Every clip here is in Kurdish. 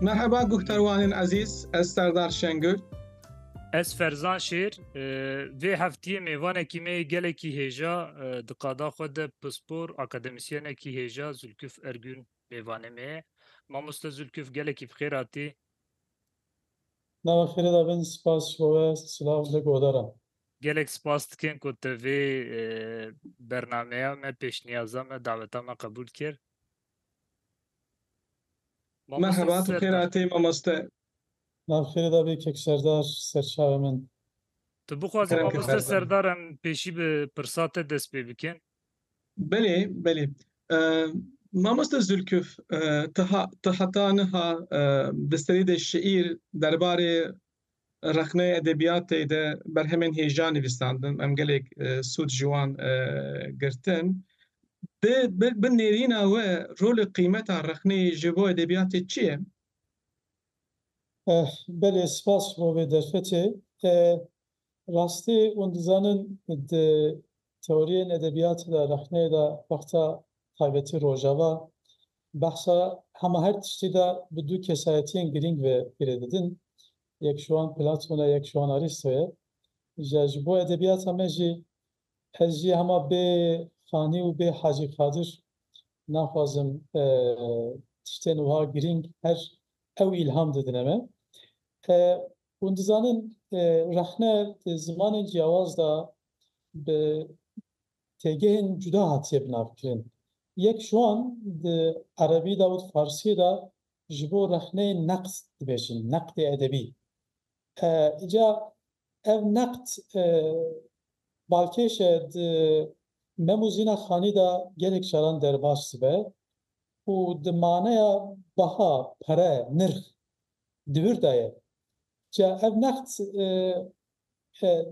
Merheba guhterwanên ezîz, ez Serdar Şengül. Ez Ferzan Şêr, vê heftiyê mêvanekî me yê gelekî hêja di qada xwe de pispor akademisyenekî hêja Zülküf Ergün mêvanê me ye. Mamoste Zülküf gelekî bi xêr hatî. Nava xêrê de bin, spas ji bo we, silav li godaran. Gelek spas dikin ku tu vê bernameya me, pêşniyaza me, daveta me qebûl kir. Merheba, tu xêr hatî mamoste. Navxêrê de bê Kek Serdar, serçavê min. Tu bixwazî mamoste Serdar em pêşî bi pirsa te dest pê bikin? Belê, belê. Mamoste Zûlkûf, tu heta niha di serî de şîîr derbarê Rexneyê edebiyatê de berhemên hêja nivîsandin, em gelek sûd ji wan girtin. Bi bi nêrîna we rol û qîmeta rexneyê ji bo edebiyatê çi ye? Ex, belê spas bo vê derfetê. Rastî hûn dizanin di Teoriyên edebiyatê de, rexneyê de wexta taybetî Rojava behsa hema her tiştî de bi du kesayetiyên girîng ve girê didin. Yek ji wan Platon e, yek ji wan Aristo ye. Îja ji bo edebiyata me jî ez jî hema bê Xanî û bê Hacî Kadir naxwazim tiştên wiha girîng her ew îlham didine me. Hûn dizanin rexne di zimanên ciyawaz de bi têgehên cuda hatiye binavkirin. Yek ji wan di erebî de û di farsiyê de ji bo rexneyê neqd dibêjin, neqdê edebî. Îca ev neqd balkêş e di mem û zîna xanî de gelek caran derbas dibe û di maneya beha, pere, nirx Dihûr daye. Ca ev neqd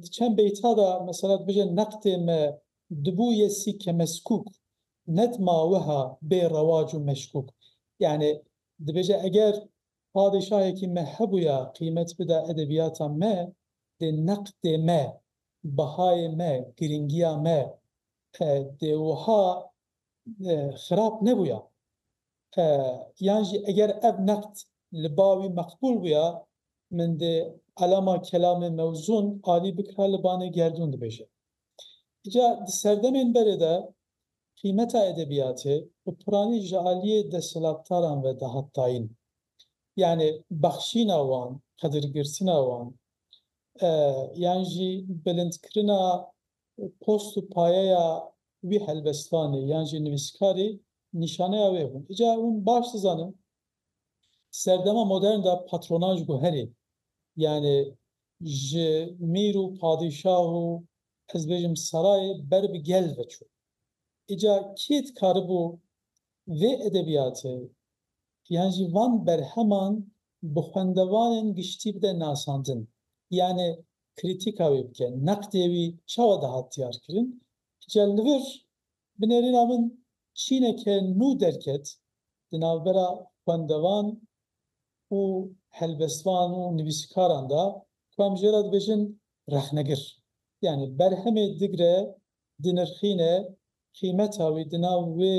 di çend beyta de mesela dibêje neqdê me dibû yê sî kemeskûk net ma wiha bê rewac û meşkûk. Yanî dibêje eger padîşahekî me hebûya qîmet bida edebiyata me dê neqdê me, behayê me, girîngiya me dê wiha xirab nebûya. Yan jî eger ev neqd li ba wî meqbûl bûya, min dê elama kelamê mewzûn alî bikira li banê gerdûn dibêje. Îca di serdemên berê de qîmeta edebiyatê bi piranî ji aliyê desthilatdaran ve dihat tayin. Yanê bexşîna wan, qedirgirtina wan yan jî bilindkirina post û payeya wî helbestvanê yan jî nivîskarî nîşaneya wê bûn. Îcar hûn baş dizanin di serdema modern de patronan ji guherê yanê ji mîr û padîşah û ez bêjim serayê ber bi gel ve çû. Îca kê dikaribû vê edebiyatê yan jî van berheman bi xwendevanên giştî bide nasandin? Yanê Krîtîka wî bike, neqdê wî çawa dihat diyarkirin? Cel li vir, bi nêrîna min çîneke nû derket di navbera xwendevan û helbestvan û nivîsîkaran de ku em jê re dibêjin rexnegir. Yanî berhemê digre, dinirxîne, qîmeta wî di nav wê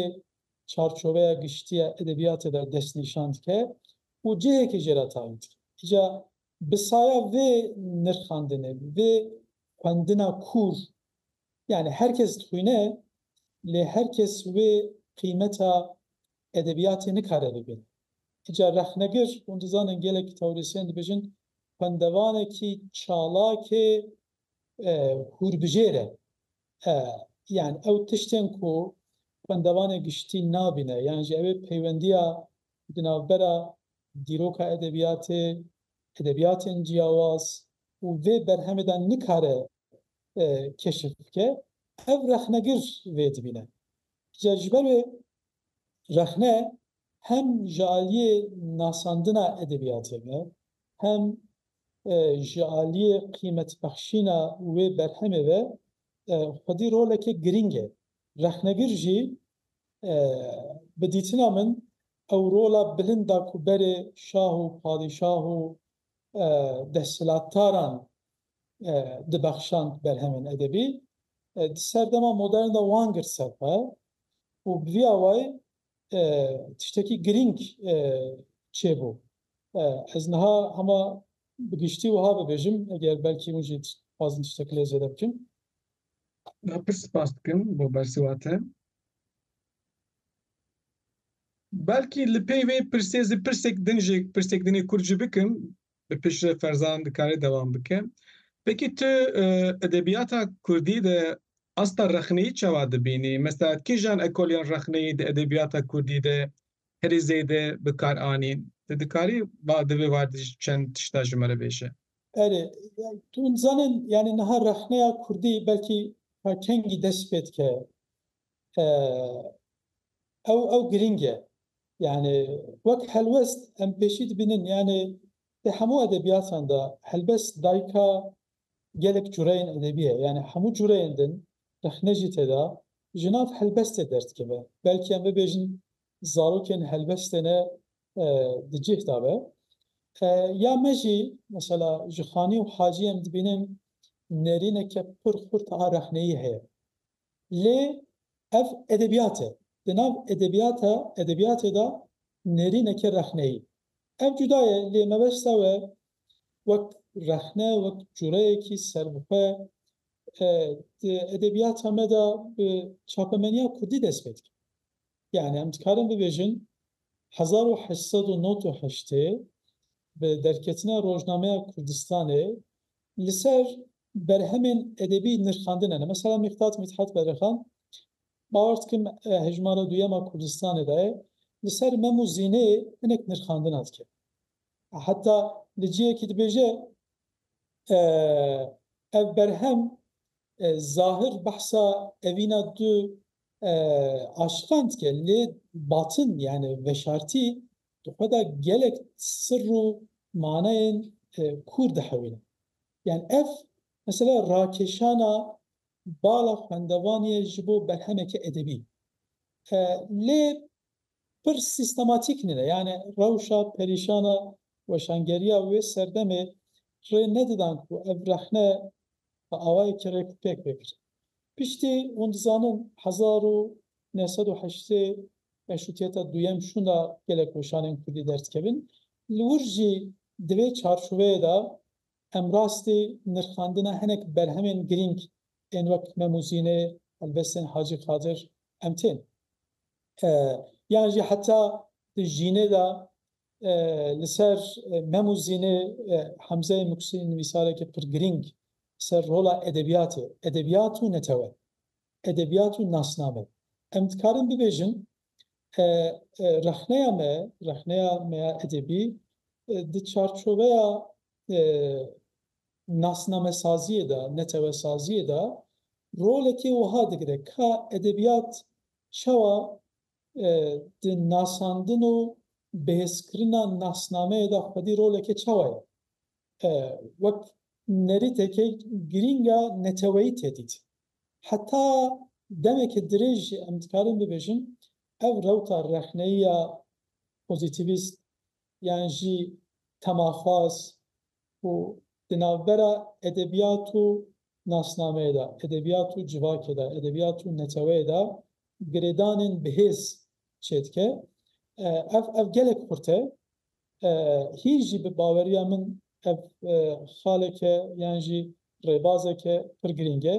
çarçoveya giştî ya edebîyatê de destnîşan dike û cihekê jê re tayîn dike. Îca Bi saya vê nirxandinê, vê xwendina kûr, yanî her kes dixwîne, lê her kes wê qîmeta edebiyatê nikare bibîne. Ti ca rexnegir, hûn dizanin gelek teorisyen dibêjin xwendevanekî çalak ê hûrbijêr e. Yanî ew tiştên ku xwendevanê giştî nabîne, yan jî ew ê peywendiya Di navbera dîroka edebiyatê, edebiyatên ciyawaz û vê berhemê de nikare keşif bike, ev rexnegir vê dibîne. Ca ji ber wê rexne hem ji aliyê nasandina edebiyatê ve, hem ji aliyê qîmetbexşîna wê berhemê ve xwedî roleke girîng e. Rexnegir jî, Bi dîtina min ew rola bilind a ku berê şah û padîşah û desthilatdaran dibexşand berhemên edebî, di serdema modern de wan girt ser xwe û bi vî awayî tiştekî girîng çêbû. Ez niha hema bi giştî wiha bibêjim, eger belkî hûn jî dixwazin tiştekî lê zêde bikin. Me pir spas dikim bo bersiva te. Belkî li pey vê pirsê zî pirsek din jê pirsek dinê kurd jî bikim bi pişre Ferzan dikare dewam bike. Peki tu e, edebiyata Kurdî de asta rexneyî çawa dibînî? Mesela kîjan ekolên rexneyî di edebiyata Kurdî de herî zêde bikar anîn? Ti dikarî va di vê war de çend tişta ji me re bêje? Erê, tu hûn dizanin yanî niha rexneya kurdî belkî ta kengî dest pê dike? Ew ew girîng e. Yanî wek helwest em pêşî dibînin yanî di hemû edebiyatan de helbest dayika gelek cureyên edebî ye. Yanî hemû cureyên din rexne jî tê de ji nav helbestê derdikeve. Belkî em bibêjin zarokên helbestê ne di cih de be. Ya me jî mesela ji xanî û hacî em dibînin nerîneke pir xurt a rexneyî heye. Lê ev edebiyat e. Di nav edebiyata edebiyatê de nerîneke rexneyî. Ev cuda ye lê mebesta we wek rexne, wek cureyekî ser bi xwe di edebiyata me de bi çapemeniya kurdî dest pê dike. Yanî em dikarin bibêjin hezar û heşt sed û nod û heştê bi derketina Rojnameya Kurdistanê li ser berhemên edebî nirxandine ne. Mesela Mîqdat Mîthat Berixan bawer dikim hejmara duyema Kurdistanê de ye li ser mem û zîneyê hinek nirxandina dike. Heta li cihekî dibêje ev berhem zahir behsa evîna du aşikand ke lê batin yanî veşartî di xwe de gelek sirr û manayên kûr dihewîne. Yanî ev mesela rakeşana bala xwendevanê ye ji bo berhemeke edebî. Lê pir sîstematîk nîne. Yanî rewşa perîşana weşangeriya wê serdemê rê nedidan ku ev rexne bi awayê kerek pêk vekir. Piştî hûn dizanin hezar û neh sed û heştê meşrûtîyeta duyem şûnda gelek weşanên kurdî derdikevin. Li wir jî di vê çarçoveyê de em rastî nirxandina hinek berhemên girîng ên wek Mem û Zînê, helbestên Hacî Qadir em tên. Yan jî heta di Jînê de Li ser Mem û Zînê Hemzeyê Muksî nivîsarekî pir girîng li ser rola edebiyatê, edebiyat û netewe, edebiyat û nasname. Em dikarin bibêjin rexneya me, rexneya me ya edebî di çarçoveya nasnamesaziyê de, netewesaziyê de rolekê wiha digire ka edebiyat çawa di nasandin û bihêzkirina nasnameyê de xwedî roleke çawa ye? Wek nerîteke girîng a neteweyî tê dît. Heta demeke dirêj jî em dikarin bibêjin ev rewta rexneyî ya pozîtîvîst yan jî temaxwaz û di navbera edebiyat û nasnameyê de, edebiyat û civakê de, edebiyat û neteweyê de girêdanên bihêz çêdike. Ev ev gelek xurt e. Hîn jî bi baweriya min ev xalek e yan jî rêbazek e pir girîng e.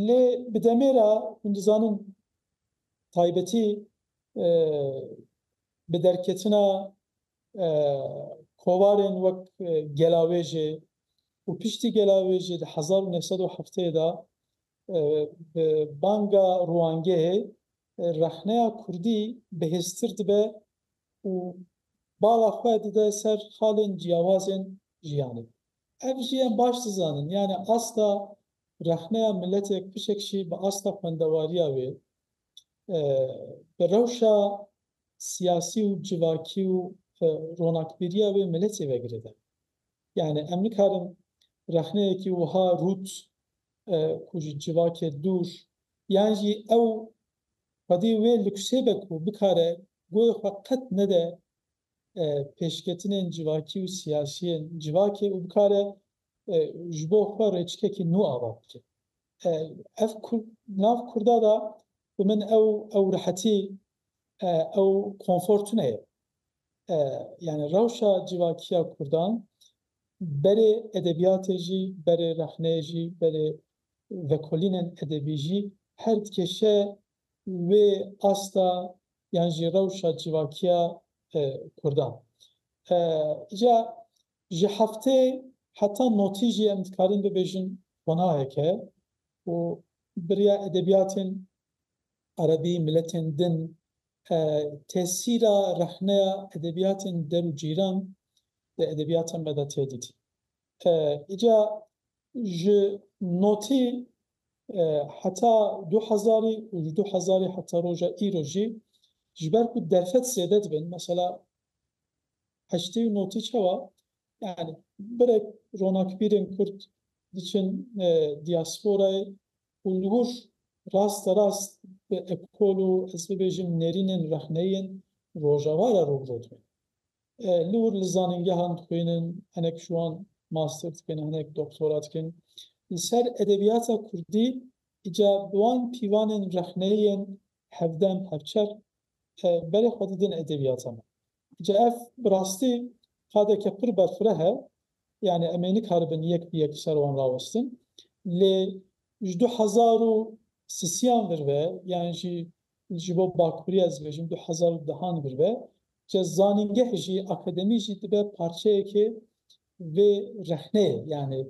Lê bi demê re hûn dizanin taybetî bi derketina Kovarên wek Gelavêjê û piştî Gelavêjê di hezar û neh sed û hefteyê de bi banga rûangehê rexneya kurdî bihêztir dibe û bala xwe dide ser xalên ciyawazên jiyanê. Ev jî em baş dizanin yanî asta rexneya miletê kişek jî bi asta xwendewariya wê Bi rewşa siyasî û civakî û ronakbîriya wê miletê ve girêdayî. Yanî em nikarin rexneyekî wiha rût ku ji civakê dûr yan jî ew xwedî wê luksê be ku bikare goyê xwe qet nede pêşketinên civakî û siyasî yên civakê û bikare ji bo xwe rêçikekî nû ava bike. Ev nav kurda da bi min ew ew rehetî ew konfor tune ye. Yani rewşa civakîya kurdan berê edebîyatê jî, berê rexneyê jî, berê vekolînên edebî jî her dikêşe wê asta yan jî rewşa civakîya kurdan. Îca ji heftê heta notî jî em dikarin bibêjin Qonahek e û biriya edebiyatên Erebî, miletên din, tesîra rexneya edebiyatên der û cîran di edebiyata me de tê dîtin. Îca ji notî heta du hezarî û ji du hezarî heta roja îro jî ji ber ku derfet zêde dibin, mesela heştê û notî çawa Yani birek ronakbîrên Kurd diçin diasporayê û li wir raste rast bi ekol û ez bibêjim nêrînên rexneyên Rojava re rû bi rû dibin. Li wir li zanîngehan dixwînin, hinek ji wan master dikin, hinek doktora dikin. Li ser edebiyata Kurdî îca bi wan pîvanên rexneyên hevdem, hevçer berê xwe didin edebiyata me. Ji ev bi rastî qadeke pir berfireh e, yanî em ê nikaribin yek bi yek li ser wan rawestin. Lê ji du hezar û sisiyan vir ve yan jî ji bo bakûrî ez dibêjim du hezar û dehan vir ve ce zanîngeh jî akademî jî dibe parçeyekê vê rexneyê yanî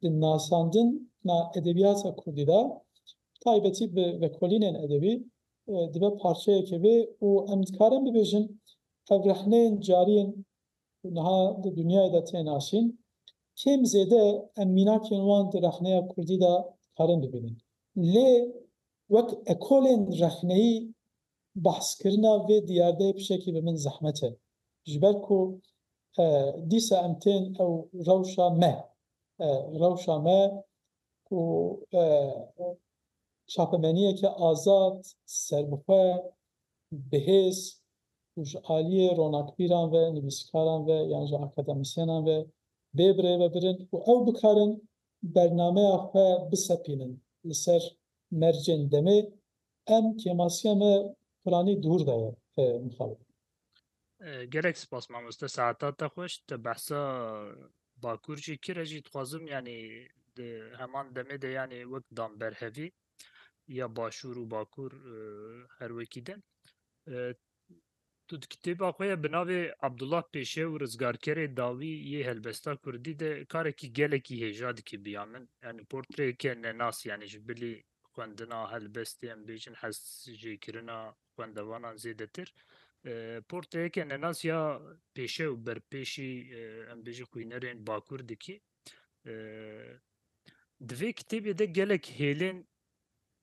di nasandin na edebiyata kurdî de bi taybetî bi vekolînên edebî Dibe parçeyekê bê û em dikarin bibêjin ev rehneyên cariyên ku niha di dinyayê de tên aşîn, kêm zêde em mînakên wan di rexneya kurdî de dikarin bibînin. Lê wek ekolên rexneyî behskirina vê diyardeyê pişekî bi min zehmet e. Ji ber ku dîsa em tên ew rewşa me, rewşa me ku çapemeniyeke azad, serbixwe, bihêz û ji aliyê ronakbîran ve, nivîsîkaran ve yan jî akademîsyenan ve bê bi rê ve birin û ew bikarin bernameya xwe bisepînin li ser mercên demê, em kêmasiya me piranî dûr de ye mixabin. Gelek spas mamoste saeta te xweş te behsa bakur jî kire jî dixwazim yanî di heman demê de yanî wek dan berhevî ya başûr û bakur e, her wekî din. E, Tu di kitêba xwe ya bi navê Abdullah Pêşe û Rizgarkerê Dawî yê helbesta Kurdî de karekî gelekî hêja dikî biya min. Yani portreyeke nenas yani ji bilî xwendina helbestê em bêjin hez jêkirina xwendevanan zêdetir. Porteyeke nenas ya pêşe û berpêşî em bêjî xwînerên bakur dikî. Di vê kitêbê de gelek hêlên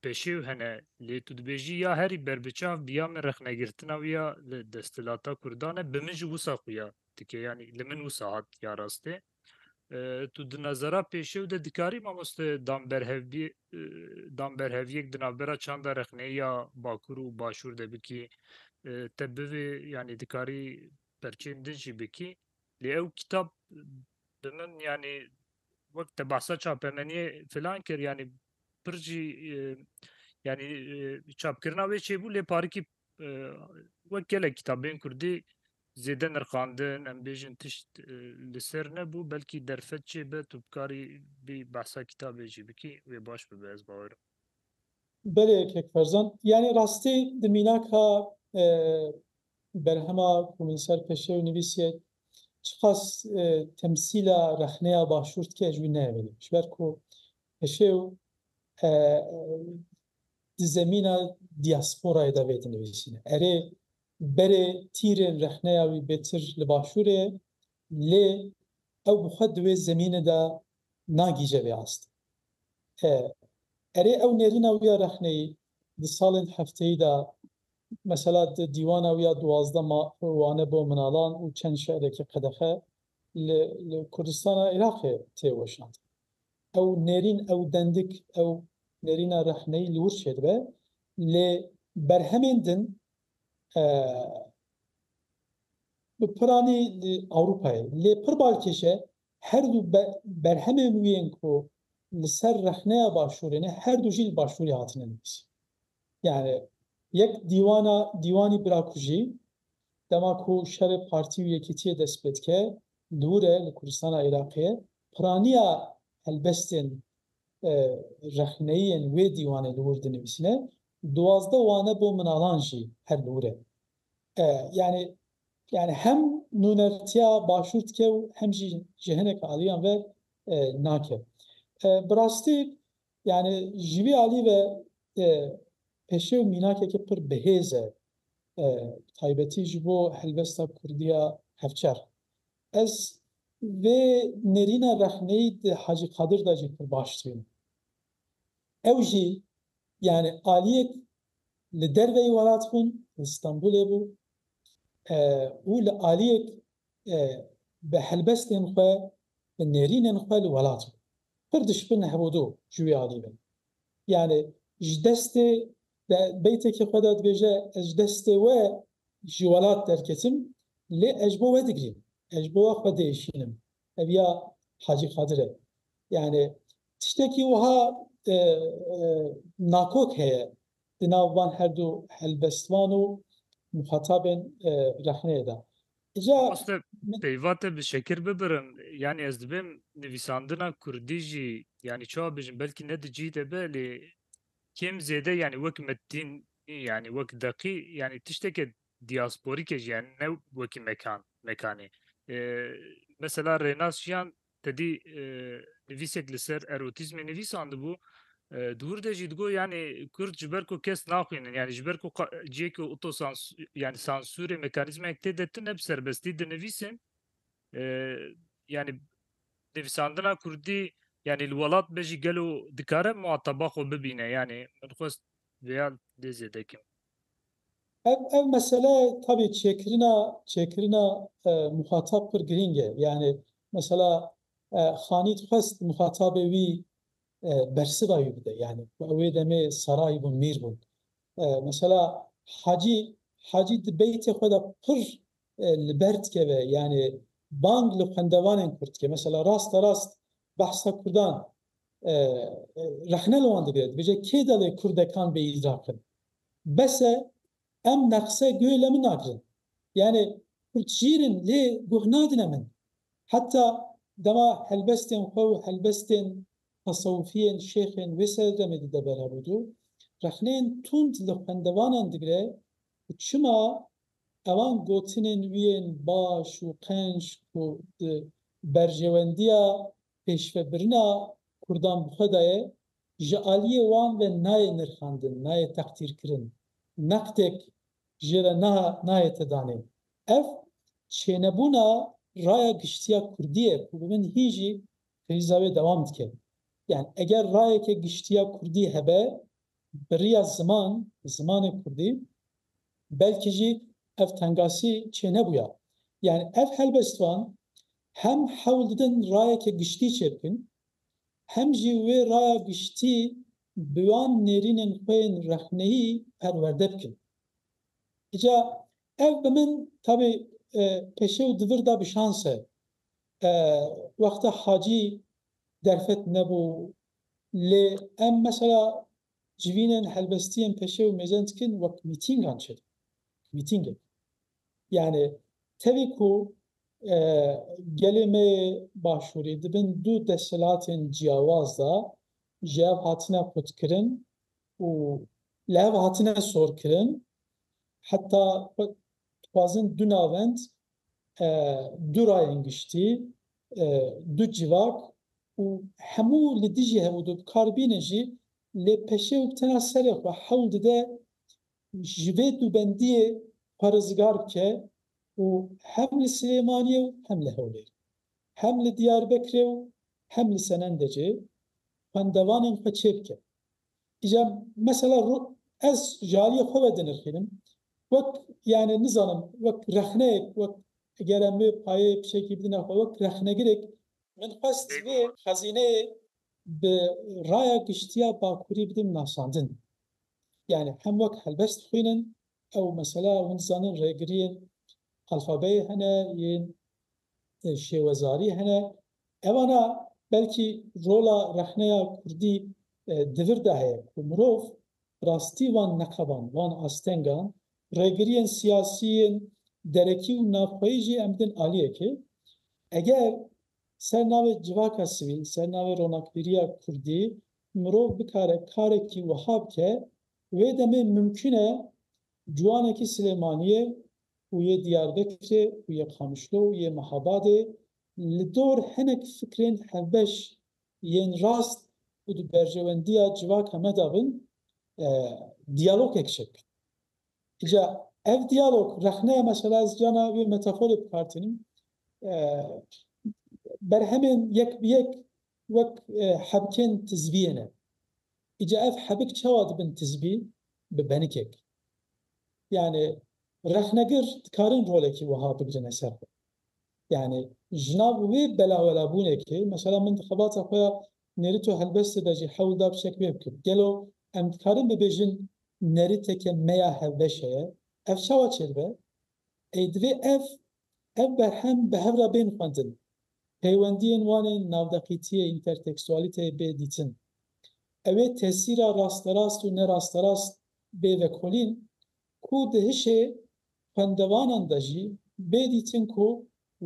peşêw hene lê tu dibêjî ya herî berbiçav bi ya min rexnegirtina wî ya li desthilata Kurdan e bi min jî wisa xuya dike yanî li min wisa hat ya rastê. Tu di nezera pêşew de dikarî mamoste dan berhevbî dan berheviyek di navbera çanda rexneyê ya Bakur û Başûr de bikî te bivê yanî dikarî perçeyên din jî bikî lê ew kitap bi min yanî wek te behsa çapemeniyê filan kir yanî pir jî yanî çapkirina wê çêbû lê parikî Wek gelek kitabên kurdî zêde nirxandin em bêjin tişt li ser nebû belkî derfet çê be tu bikarî bî behsa kitabê jî bikî wê baş bibe ez bawer im. Belê kek Ferzan yanî rastî di mînaka berhema ku min ser peşê û nivîsiye çiqas temsîla rexneya başûr dike ez jî wî neyê vênî ji ber ku peşê û di zemîna dîasporayê de vê dinivîsîne. Erê, berê tîrên rexneya wî bêtir li başûrê ye, lê ew bi xwe di wê zemînê de nagîje vê astê. E, erê ew nêrîna wî ya rexneyî di salên hefteyî de mesela di dîwana wî ya duwazdeh ma Wane bo minalan û çend şi'rekî qedexe li li Kurdistana Iraqê tê weşandin. Ew nêrîn, ew dendik, ew nêrîna rexneyî li wir çêdibe. Lê berhemên din bi piranî li Ewropayê. Lê pir balkêş e her du berhemên wî yên ku li ser rexneya Başûrê ne, her du jî li Başûrê hatine nivîsîn. Yanî yek dîwana dîwanî birakujî dema ku şerê partî û yekîtiyê dest pê dike li wir e, li Kurdistana Iraqê ye. Piraniya helbestên rexneyî yên wê dîwanê li wir dinivîsîne, duwazdeh wane bo minalan jî her li wir e. Yanî yanî hem nûnertiya başûr dike û hem jî ji hineke aliyan ve nake. Bi rastî yanî ji vî alî ve peşew mînakeke pir bihêz e, bi taybetî ji bo helbesta kurdî ya hevçerx. Ez vê nêrîna rexneyî di Hacî Qadir de jî pir baş dibînim. Ew jî yanî aliyek li derveyî welat bûn, li Stenbolê bû û li aliyek bi helbestên xwe, bi nêrînên xwe li welat bû. Pir dişpin hebûdu ji wî alî ve. Yanî ji destê Di beytekî xwe de dibêje, Ez ji destê we ji welat derketim, lê ez ji bo we digrîm, ez ji bo we xwe diêşînim. Ev ya Hacî Qadir e. Yanî tiştekî wiha nakok heye di nav van her du helbestvan û muxatabên rexneyê de. Îja Mamoste, peyva te bi şekir bibirim, yanî ez dibêm nivîsandina kurdî jî, yanî çawa bijim, belkî ne di cî de be, lê Kêm zêde yanî wek Mettîn yanî wek Deqî yanî tişteke diasporîk e jî yanî ne wekî mekan mekanê. Mesela Rênas Jiyan tedî nivîsek li ser erotîzmê nivîsandibû di wir de jî digot yanî Kurd ji ber ku kes naxwînin yanî ji ber ku ciyekî otosans yanî sansûrê mekanîzmayek tê de tune bi serbestî dinivîsin yanî Nivîsandina kurdî yanî li welat be jî gelo dikare muhataba xwe bibîne yanî min xwest vêya lê zêde kim. Ev ev mesele tabî çêkirina çêkirina muhatab pir girîng e yanî mesela Xanî dixwest muhatabê wî bersiva wî bide yanî ku ew wê demê saray bûn mîr bûn mesela Hacî Hacî di beytê xwe de pir li ber dikeve yanê bang li xwendevanên kurd dike mesela rasta rast behsa kurdan rexne li wan digire dibêje kê delê kurdekan bê îl rakin bese em neqse guê le min nagirin yanê kurd jîrin lê guh nadine min heta dema helbestên xwe û helbestên tesewifiyên şêxên wê ser demê dide berhevûdû rexneyên tund li xwendevanan digire û çima Ewan gotinên wî yên baş û qenc ku di berjewendiya pêşvebirina kurdan bi xwe de ye, ji aliyê wan ve nayê nirxandin, nayê teqdîrkirin, neqdek jê re niha nayete danîn. Ev çênebûna raya giştiya kurdî ye ku bi min hîn jî krîza wê dewam dike. Yan eger rayeke giştiya kurdî hebe Bi riya ziman, zimanê kurdî, belkî jî ev tengasî çênebûya. Yanî ev helbestvan hem hewl didin rayeke giştî çêbikin, hem jî wê raya giştî bi wan nêrînên xwe yên rexneyî perwerde bikin. Îca ev bi min tabî peşê û di vir de bi şans e. Wexta Hacî derfet nebû Lê em mesela civînên helbestiyên peşê û mêzen dikin wek mîtîngan çêdikin. Mîtîngek. Yanî tevî ku gelê me yê Başûrî di bin du desthilatên ciyawaz de ji hev hatine qutkirin û li hev hatine sorkirin heta dixwazin du navend Du rayên giştî, du civak û hemû li dijî hev û du bi kar bîne jî lê peşê û bi tena serê xwe hewl dide ji vê du bendiyê xwe rizgar bike û hem li Silêmaniyê û hem li Hewlêrê, hem li Diyarbekirê û hem li Senendecê xwendevanên xwe çêbike. Îca mesela ro ez ji aliyê xwe ve dinirxînim. Wek yanê nizanim wek rexneyek wek eger em vê payeyê pişekî bidin xwe wek rexnegirêk, min xwest vê xezîneyê bi raya giştiya Bakurî bidin nasandin. Yanê hem wek helbest bixwînin ew mesela hûn dizanin rêgiriyên alfabeyê hene yên şêwezarî hene Evana belkî rola rexneya kurdî di vir de heye ku mirov bi rastî van neqeban, van astengan, rêgiriyên siyasî yên derekî û navxweyî jî em bidin aliyekê. Eger ser navê civaka sivî, ser navê ronakbîriya kurdî mirov bikare karekî wiha bike, wê demê mimkun e ciwanekî Silêmaniyê û yê Diyarbekirê û yê Qamişlo û yê Mehabadê Li dor hinek fikrên hevbeş yên rast û di berjewendiya civaka me de bin, diyalogek çek. Îca ev diyalog rexneye mesela ez carna vê metaforê bikar tînim. Berhemên yek bi yek wek hebikên tizbiyê ne. Îca ev hebik çawa dibin tizbî? Bi benikek. Yanî rexnegir dikarin rolekî wiha bigrine ser xwe. Yanî jina bi wê belawelabûnekê, mesela min di xebata xwe ya Nêrîto Helbestê de jî hewl da fişek wê bikir. Gelo em dikarin bibêjin nêrîteke me ya hevbeşe ye? Ev çawa çêdibe? Ê divê ev ev berhem bi hev re bên xwendin, peywendiyên wan ên navdeqîtiyê, întertekstualîteyê bê dîtin. Ew ê tesîra rasterast û nerasterast bê vekolîn ku di hişê Xwendevanan de jî bê dîtin ku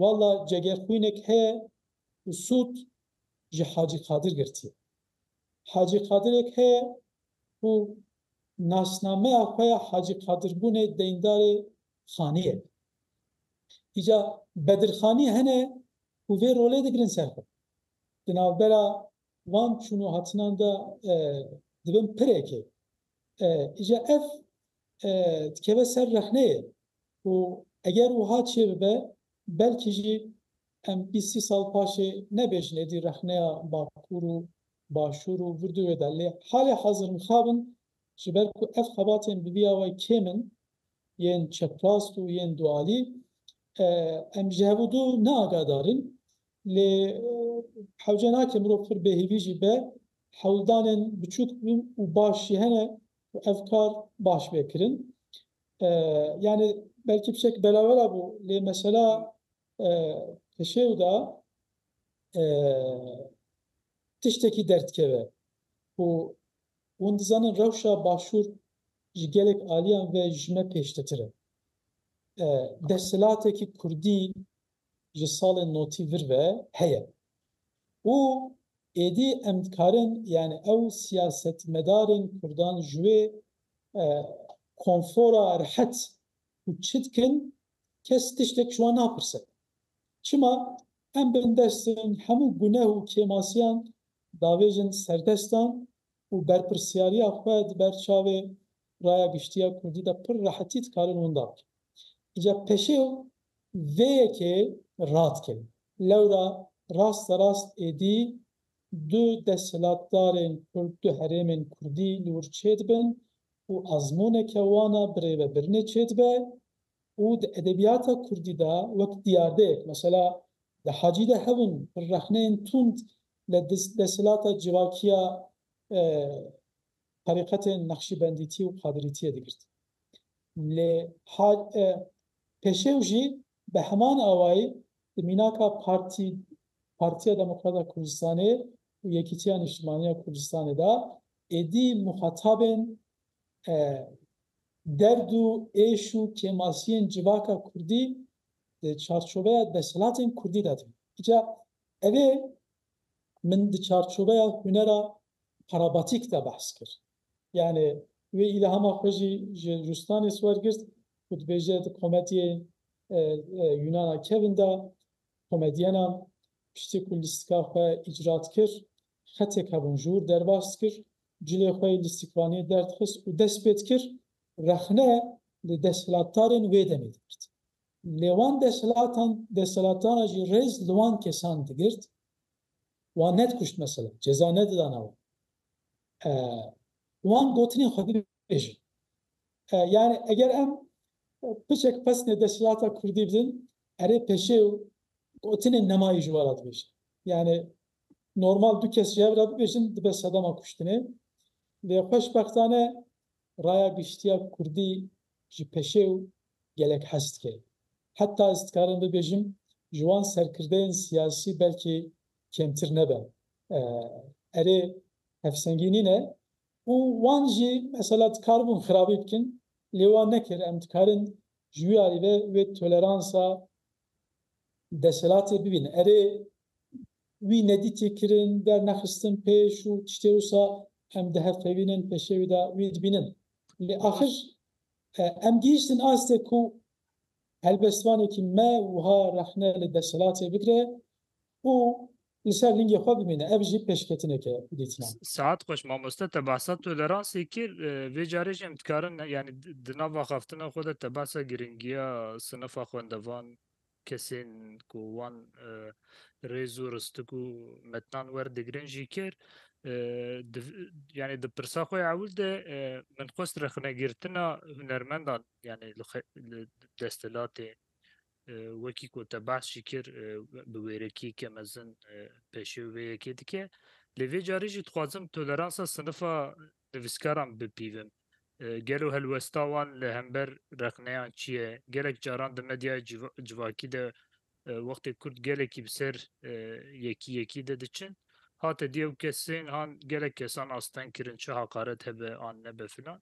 walla cegerxwînek heye û sûd ji Hacî Qadir girtiye. Hacî Qadirek heye ku nasnameya xwe ya Hacî Qadir bûnê deyndarê Xaniyek. Îca Bedirxanî hene ku vê rolê digirin ser xwe. Di navbera van çûn û hatinan de dibin pireke. Îja ev dikeve ser rexneyê û eger wiha çêbibe belkî jî em bîst sî sal paşê nebêjin êdî rexneya Bakur û Başûr û vir du wê de lê halê hazir mixab in ji ber ku ev xebatên bi vî ya we kêm in yên çeprast û yên dualî em ji hev û du neagahdar in lê hewce nake mirov pir bêhîvî jî be hewldanên biçûk û baş jî hene ku ev kar baş bê kirin. Yanî belkî pişek belawela bû lê mesela pişêw de tiştekî derdikeve ku hûn dizanin rewşa Başûr ji gelek aliyan ve ji me pêştetir e. Desthilatekî kurdî ji salên notî vir ve heye û êdî em dikarin yanî ew siyasetmedarên kurdan ji wê konfora rehet ku çi dikin kes tiştek ji wan napirse. Çima em bindestên hemû guneh û kêmasiyan davêjin serdestan û berpirsyariya xwe di ber çavê raya giştiya kurdî de pir rehetî dikarin winda bikin. Îca peşew vê yekê radikin. Lewra rasterast êdî du desthilatdarên kurd, du herêmên kurdî li wir çêdibin û azmûneke wan a birê ve birinê çêdibe û di edebiyata kurdî de wek diyardeyek mesela di hacî de hebûn pir rexneyên tund li desthilatda civakiya Terîqetên Neqşîbendîtî û Qadirîtîyê digirt. Lê hal e pêşew jî bi heman awayî di mînaka Partî Partîya Demokrat a Kurdistanê û Yekîtîya Niştimanî ya Kurdistanê de êdî muxatabên derd û êş û kêmasîyên civaka kurdî di çarçoveya desthilatên kurdî de dibîn. Îca evê Min di çarçoveya hunera parabatîk de behs kir. Yanê wê îlhama xwe jî ji Rustanis wergirt ku dibêje di komedyê Yunana Kevin de komedyenan piştî ku lîstika xwe îcra dikir xetê kevûnjûr derbas dikir, cilê xwe yê lîstikvaniyê derdixist û dest pê dikir rexne li desthilatdarên wê demê digirt. Lê wan desthilatan desthilatdana jî rêz li wan kesan digirt, wan nedikuşt mesela, ceza nedidana wan. Wan gotinên xwe dibêjin. Yanî eger em piçek pesnê desthilata kurdî bidin, erê peşê û gotinên nemayî ji we re dibêjin. Yanî normal du kes ji hev re bibêjin dibe sedema kuştinê. Lê xweşbextane raya giştiya kurdî Ji peşew gelek hez dike. Heta ez dikarim bibêjim ji wan serkirdeyên siyasî belkî kêmtir nebe. Erê hevsengî nîne û wan jî mesela dikaribûn xirabî bikin lê wan nekir. Em dikarin ji wî alî ve wê toleransa Desthilatê bibîne. Erê, wî nedîtî kirin, dernexistin pêş û tiştê wisa em dihevpeyvînin peşê wî de wî dibînin. Lê axir em gihîştin astê ku helbestvanekî me wiha rexne li desthilatê bigire û Li ser lingê xwe bimîne ev jî pêşketineke ye ku dîtina. Saet xweş mamoste te behsa tu li rasê kir vê carê jî em dikarin yanî di nav axaftina xwe de te behsa giringiya sinifa xwendevan kesên ku wan rêz û ristik û metnan werdigrin jî kir yanî di pirsa xwe ya ewil de min xwest rexnegirtina hunermendan yanî li desthilatê Wekî ku te behs jî kir bi wêrekiyeke mezin pêşiyo vê yekê dike. Lê vê carî jî dixwazim toleransa sinifa nivîskaran bipîvim. Gelo helwesta wan li hember rexneyan çi ye? Gelek caran di medyaya civakî de wextê kurd gelekî bi ser yekî yekî de diçin hate dî ew kesên han gelek kesan asteng kirin çi haqaret hebe an nebe filan.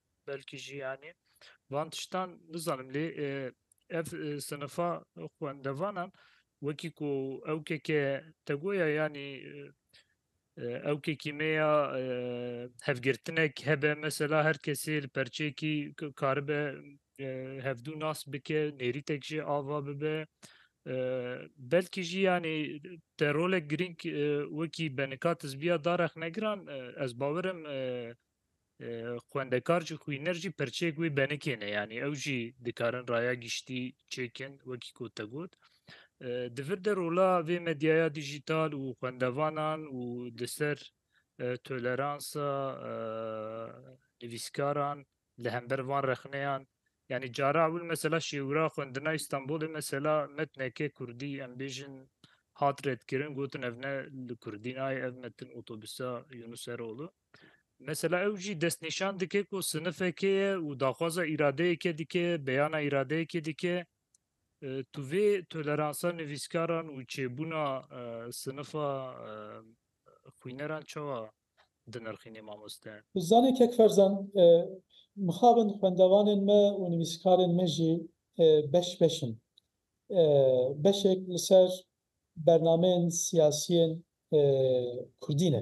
belkî jî yanî van tiştan nizanim lê ev sinifa xwendevanan wekî ku ew keke te goya yanî ew kekî me ya hevgirtinek hebe mesela her kesê li perçeyekî karibe hevdû nas bike nêrîtek jê ava bibe belkî jî yanî te rolek girîng wekî benika tizbiya darexnegiran ez bawerim Xwendekar jî xwîner jî perçeyek wê benekê ne yanî ew jî dikarin raya giştî çêkin wekî ku te got. Di vir de rola vê medyaya dijîtal û xwendevanan û di ser toleransa nivîskaran li hember van rexneyan yanî cara ewil mesela şêwira xwendina Îstanbulê mesela metneke Kurdî em bêjin hat redkirin gotin ev ne li Kurdî nayê ev metin otobisa Yunus Erolu. Mesela ew jî destnîşan dike ku sinifekê ye û daxwaza îradeyeke dike, beyana îradeyekê dike. Tu vê toleransa nivîskaran û çêbûna sinifa xwîneran çawa dinirxînî mamoste? Zanî kek Ferzan, mixabin xwendevanên me û nivîskarên me jî beş beş in. Beşek li ser bernameyên siyasiyên kurdî ne.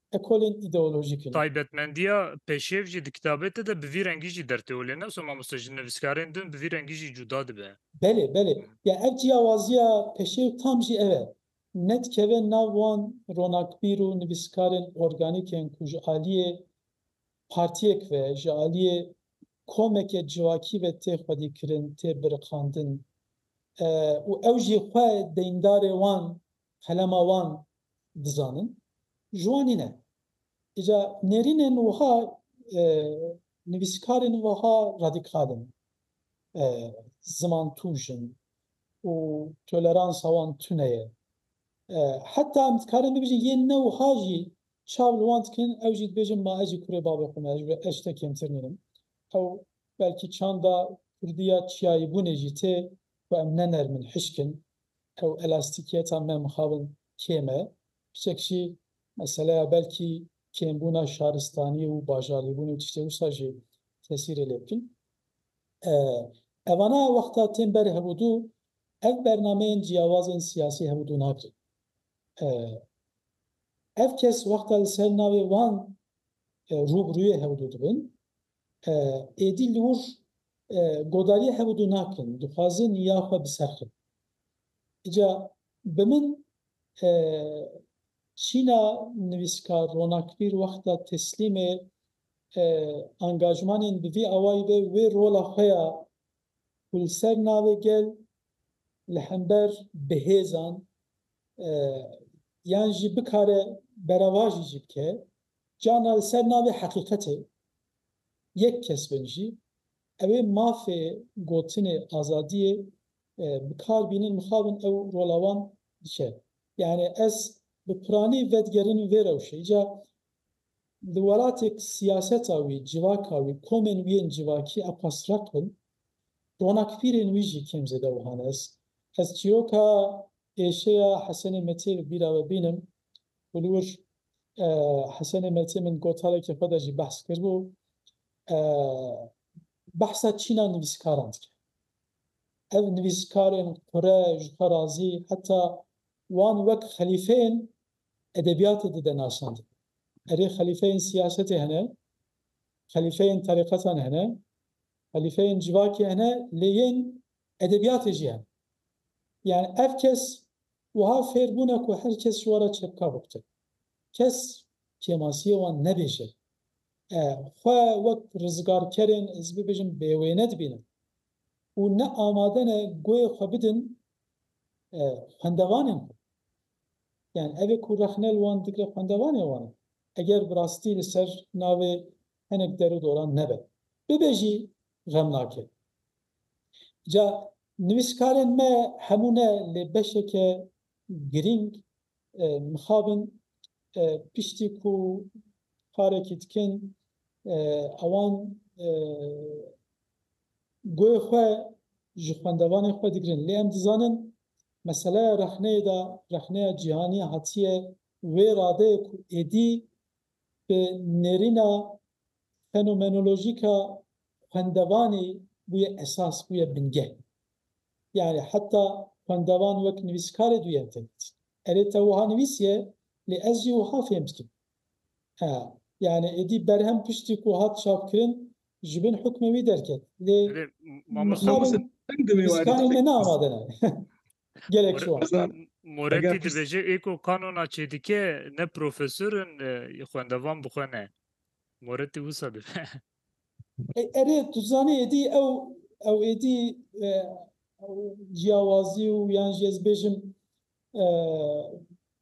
ekolên îdeolojîk in. Taybetmendiya peşev jî di kitabê te de bi vî rengî jî dertê û lê ne wisa mamoste ji nivîskarên din bi vî rengî jî cuda dibe. Belê, belê. Ya ev cîyawaziya peşew tam jî ev e. Ne dikeve nav wan ronakbîr û nivîskarên organîk ên ku ji aliyê partiyek ve, ji aliyê komeke civakî ve tê xwedîkirin, tê biriqandin û ew jî xwe deyndarê wan, qelema wan dizanin ji wan nîne. Îca nêrînên wiha nivîskarên wiha radîkal in, zimantûj in û toleransa wan tune ye. Heta em dikarin bibêjin yê ne wiha jî çav li wan dikin, ew jî dibêjin ma ez jî kurê bavê xwe me, ez ji we eşte kêmtir nînim. Ew belkî çanda kurdî ya çiyayîbûnê jî tê ku em ne nerm in, hişk in, Ew elastîkiyeta me mixabin kêm e. Piçek jî meseleya belkî kêmbûna şaristanî û bajarîbûnê û tiştên wisa jî tesîrê lê bikin. Evana wexta tên ber hevûdû ev bernameyên ciyawazên siyasî hevûdû nakin. Ev kes wexta li ser navê wan rû bi rûyê hevûdû dibin. Êdî li wir godariyê hevûdû nakin, dixwazin ya xwe biserxin. Îca bi min çîna nivîskar Ronakbîr wexta teslîmê angajmanên bi vî awayî be wê rola xwe ya ku li ser navê gel li hember bi hêzan yan jî bikare beravajî jî bike, Carna li ser navê heqîqetê yek kes vejî, ew ê mafê gotinê azadiyê bi kar bînin, mixabin ew rola wan dike. Yanî ez bi piranî vedigerînim vê rewşê. Îca li welatêk siyaseta wî, civaka wî, komên wî yên civakî a qas req bin, ronakpîrên wî jî kêm zêde wiha ne. Ez çîroka Êşeya Hesenê Metî li bîra we bînim ku li wir Hesenê Metî min gotarekê xwe de jî behs kiribû. Behsa çîna nivîskaran dike. Ev nivîskarên qure, ji xwe razî, heta wan wek xelîfeyên edebiyatê dide nasandin. Erê xelîfeyên siyasetê hene, xelîfeyên terîqetan hene, xelîfeyên civakê hene lê yên Edebiyatê jî hene. Yanî ev kes wiha fêr bûne ku her kes ji we re çepka bikute. Kes kêmasiyê wan nebêje. E, xwe wek rizgarkerên, ez bibêjim, bêwêne dibînin û ne amade ne goyê xwe bidin e, xwendevanên xwe. Yanî ev e ku rexne li wan digre xwendevanê wan e. Eger bi rastî li ser navê hinek der û doran nebe. Bibe jî xemnake. Ca nivîskarên me hemû ne lê beşeke girîng mixabin piştî ku karekî dikin ewan goyê xwe ji xwendevanê xwe digirin lê em dizanin meseleya rexneyê de rexneya cîhanî hatiye wê radeyê ku êdî bi nêrîna Fenomenolojîka xwendevanê bûye esas, bûye bingeh. Yanî heta xwendevan wek nivîskarê duyem fêm dikin. Erê te wiha nivîsiye, lê ez jî wiha fêm dikim. He, yanî êdî berhem piştî ku hat çapkirin ji bin hukmê wî derket. Lê mixabin nivîskarên me ne amade ne. Gelek şiwan. Heza Moretti Eger pirs- dibêje ê ku kanona çêdike ne profesor in e, xwendevan bi xwe ne. Moretti wisa dibe. E- Erê tu zanî êdî ew ew êdî e, ew ciyawazî û yan jî ez bêjim e,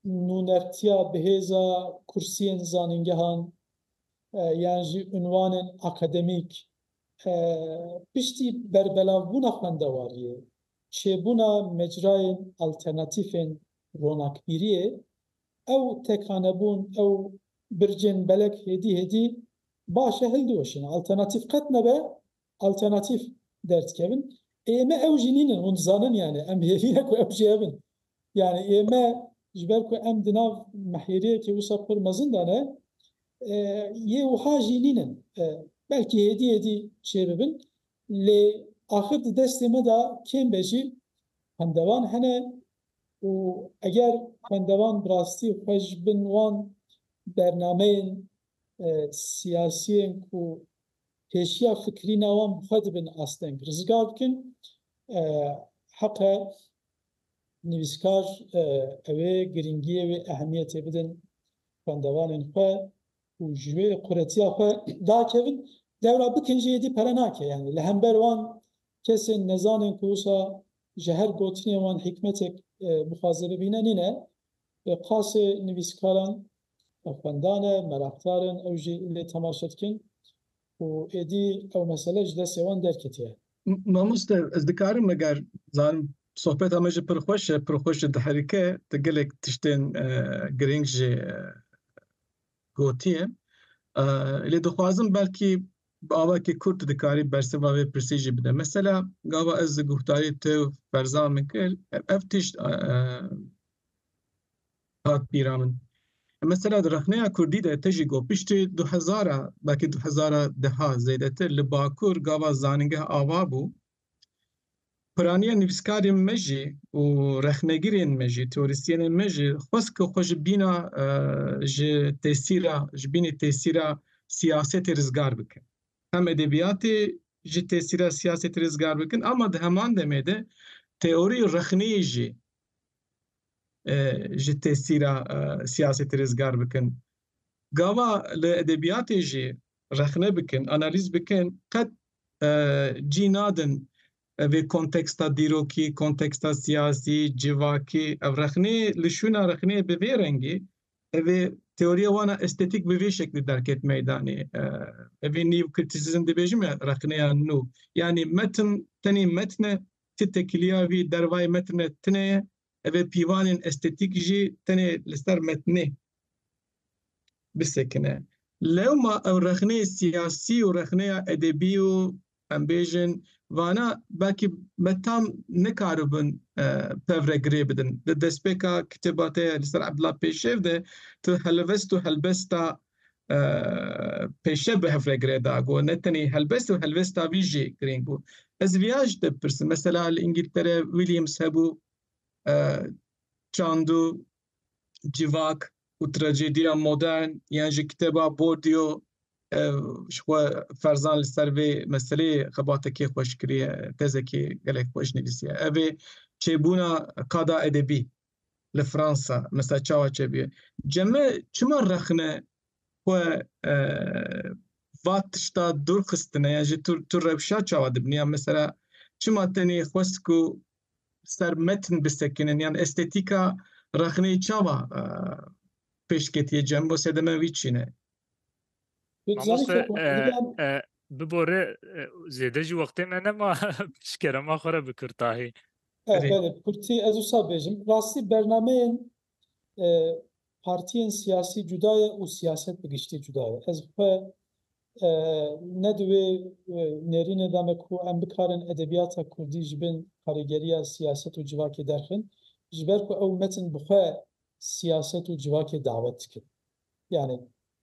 nûnertiya bihêza kursiyên zanîngehan e, yan jî unwanên akademîk e, piştî berbelavbûna xwendewariyê çêbûna mecrayên alternatîfên ronakbîriyê, ew tekhanebûn, ew bircên belek hêdî hêdî baş e hildiweşin. Alternatîf qet nebe alternatîf derdikevin. Ê me ew jî nînin, hûn dizanin yanî em hêvî ne ku ew jî hebin. Yanî ê me ji ber ku em di nav mehêriyekê wisa pir mezin de ne, yê wiha jî nînin. Belkî hêdî hêdî çêbibin. Lê axir di destê me de kêm be jî xwendevan hene û eger xwendevan bi rastî xwe ji bin wan bernameyên siyasî yên ku pêşiya fikirîna wan bi xwe dibin asteng rizgar bikin, heqe nivîskar ew ê girîngiyê wê ehemiyetê bidin xwendevanên xwe. û ji wê quretiya xwe dakevin, dewra bikin jî êdî pere nake, yanî li hember wan kesên nezan ên ku wisa ji her gotinên wan hîkmetek bixwaze bibîne nîne, bi qasê nivîskaran ev xwendan e, meraqdar in, ew jî lê temaşe dikin û êdî ew mesele ji destê wan derketiye. Mamoste ez dikarim meger zanim sohbeta me jî pir xweş e, pir xweş jî diherike, tu gelek tiştên girîng jî gotiye. Lê dixwazim belkî bi awayekî kurt tu dikarî bersiva vê pirsî jî bide. Mesela gava ez di guhdarî te û Ferzan min kir ev tişt hat bîra min. Mesela di rexneya kurdî de te jî got piştî du hezar a belkî du hezar a deha zêdetir li Bakur gava zanîngeh ava bû Piraniya nivîskarên me jî û rexnegirên me jî, teorîstyenên me jî xwest ku xwe ji bîna ji tesîra ji bînî tesîra siyasetê rizgar bikin. Hem edebiyatê ji tesîra siyasetê rizgar bikin ama di heman demê de teorî rexnê jî ji tesîra siyasetê rizgar bikin. Gava li edebiyatê jî rexne bikin, analîz bikin qet cî nadin vê konteksta dîrokî, konteksta siyasî, civakî ev rexnê li şûna rexnê bi vê rengî ev ê teoriya wana estetîk bi vê şeklî derket meydanê. Ev ê nîv kritisizm dibêjin me rexneya nû yanî metin tenê metin e ti tekiliya vî dervayê metin re tune ye. Ev ê pîvanên estetîk jî tenê li ser metinê bisekine. Lewma ew rexneyê siyasî û rexneya edebî û em bêjin vana belkî me tam nikaribin pev re girê bidin. Di destpêka kitêba te li ser Ebdullah Pêşev de tu helivest û helbesta Pêşev bi hev re gire da ku ne tenê helbest û helvesta wî jî girîng bû. Ez divê ya ji te bipirsim mesela li Îngîltere Williams hebû, çandû, civak û trajediya modern yan jî kitêba Bourdieu ji xwe ferzan li ser vê meseleyê xebatekê xweş kiriye, tezekê gelek xweş nivîsiye. Ev ê çêbûna qada edebî li Fransa mesela çawa çêbûye. Ceme çima rexne xwe va tişta dûr xistine yan jî tu tu rewşa çawa dibînî yan mesela çima tenê xwest ku ser metn bisekinin yan estetîka rexneyê çawa pêşketiyê Cembo sedeme wî çî ne? Mamoste bibore zêde jî wextê me nema pişkerema xwe re bi kurtahî. Kurtî ez wisa bêjim rastî bernameyên Partiyên siyasî cuda ye û siyaset bi giştî cuda ye. Ez xwe ne di wê nêrînê de me ku em bikarin edebiyata kurdî ji bin karîgeriya siyaset û civakê derxin, ji ber ku ew metin bi xwe siyaset û civakê dawet dikin. Yanî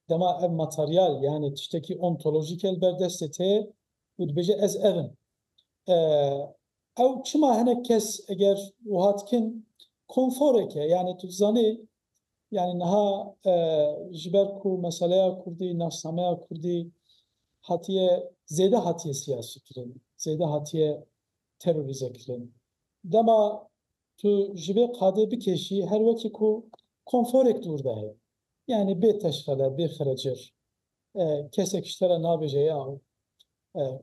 dema ev materyal yanî tiştekî ontolojîk e li ber destê te ye û dibêje ez ev im. Ew çima hinek kes eger wiha dikin konforek e. Yanî tu dizanî yanî niha ji ber ku meseleya kurdî, nasnameya kurdî hatiye zêde hatiye siyasîkirin, zêde hatiye terorîzekirin. Dema tu ji vê qadê bikêşî her wekî ku konforek dûr de heye. Yanî bê teşxele, bê xire cir. Kesek ji te re nabêje ya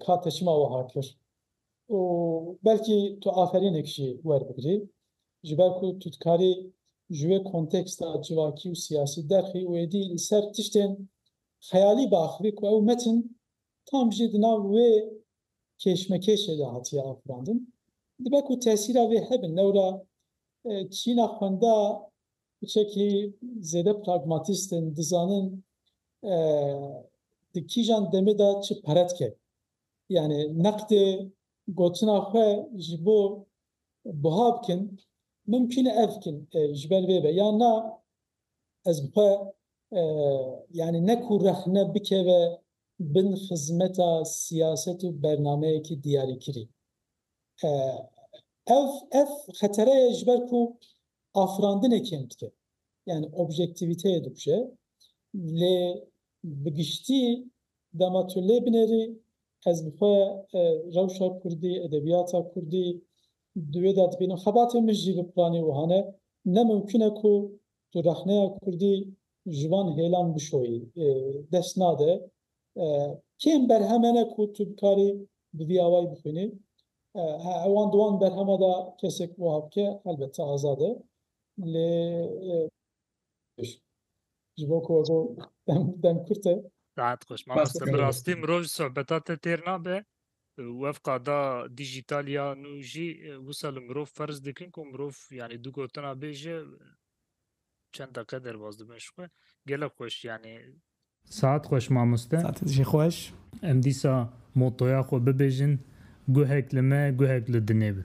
ka te çima wiha kir û belkî tu aferînek jî werbigirî ji ber ku tu dikarî ji wê konteksta civakî û siyasî derxî û êdî li ser tiştên xeyalî biaxivî ku ew metin tam jî di nav wê kêşmekêşê de hatiye afirandin. Dibe ku tesîra vê hebin lewra çîna xwenda Hiçekî zêde pragmatîst in, dizanin di kîjan demê de çi pere dike. Yanî neqdê gotina xwe ji bo buha bikin, mimkûn e ev bikin ji ber vê be yan na, ez bi xwe yanî ne ku rexne bikeve bin xizmeta siyaset û bernameyekî diyarîkirî. Ev ev xetere ye ji ber ku afirandinê kêm dike. Yani objektîvîteyê dikuje. Lê bi giştî dema tu lê binêrî ez bi xwe rewşa kurdî, edebiyata kurdî di wê de dibînim. Xebatê min jî bi piranî wiha ne. Ne mimkun e ku tu rexneya kurdî ji van hêlan bişoyî. Dest nade Kêm berhem hene ku tu bikarî bi vî awayî bixwînî. Wan di wan berhema de kesek wiha bike helbette azad e. Lê ji bo ku we got dem kurt e. Saet xweş mamoste. Bi rastî mirov ji sohbeta te têr nabe. Wev qada dîjîtal ya nû jî wisa li mirov ferz dikin ku mirov yanî du gotina bêje çend deqe derbas dibin ji xwe. Gelek xweş yanî Saet xweş mamoste. Saetê jî xweş. Em dîsa motoya xwe bibêjin, Guhek li me, guhek li dinê bi.